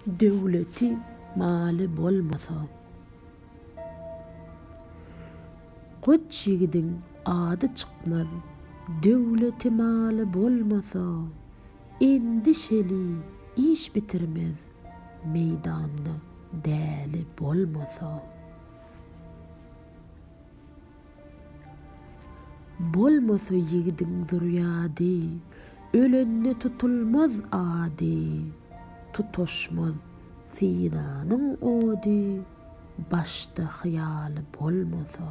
Döwleti maly bolmasa. Goç ýigidiň ady çykmaz Döwleti maly bolmasa Endişeli iş bitirmez Meýdanda däli bolmasa. Bolmasa ýigidiň zürýady. Ölende tutulmaz ady. Tutaşmaz synanyň ody. Başda hyýaly bolmasa.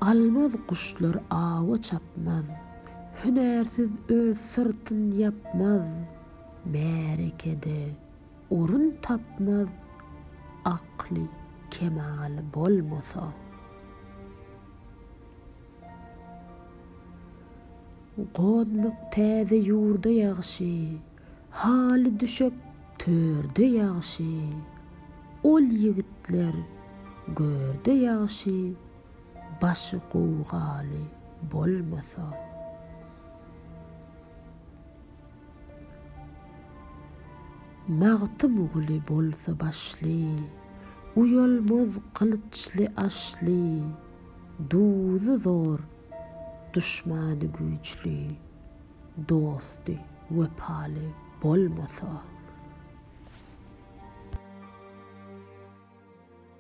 Almaz guşlar awa çapmaz. Hünärsiz öz syrtyn ýapmaz. Märekede. Orun tapmaz akly kemaly bolmasa. Gonmak täze ýurda ýagşy, Haly düşek törde ýagşy, Ol ýigitler görde ýagşy, Başy gowgaly bolmasa. Magtymguly bolsa başly, Uýalmaz gylyçly Aşly, Duzy zor, duşmany güýçli, Dosty wepaly bolmasa.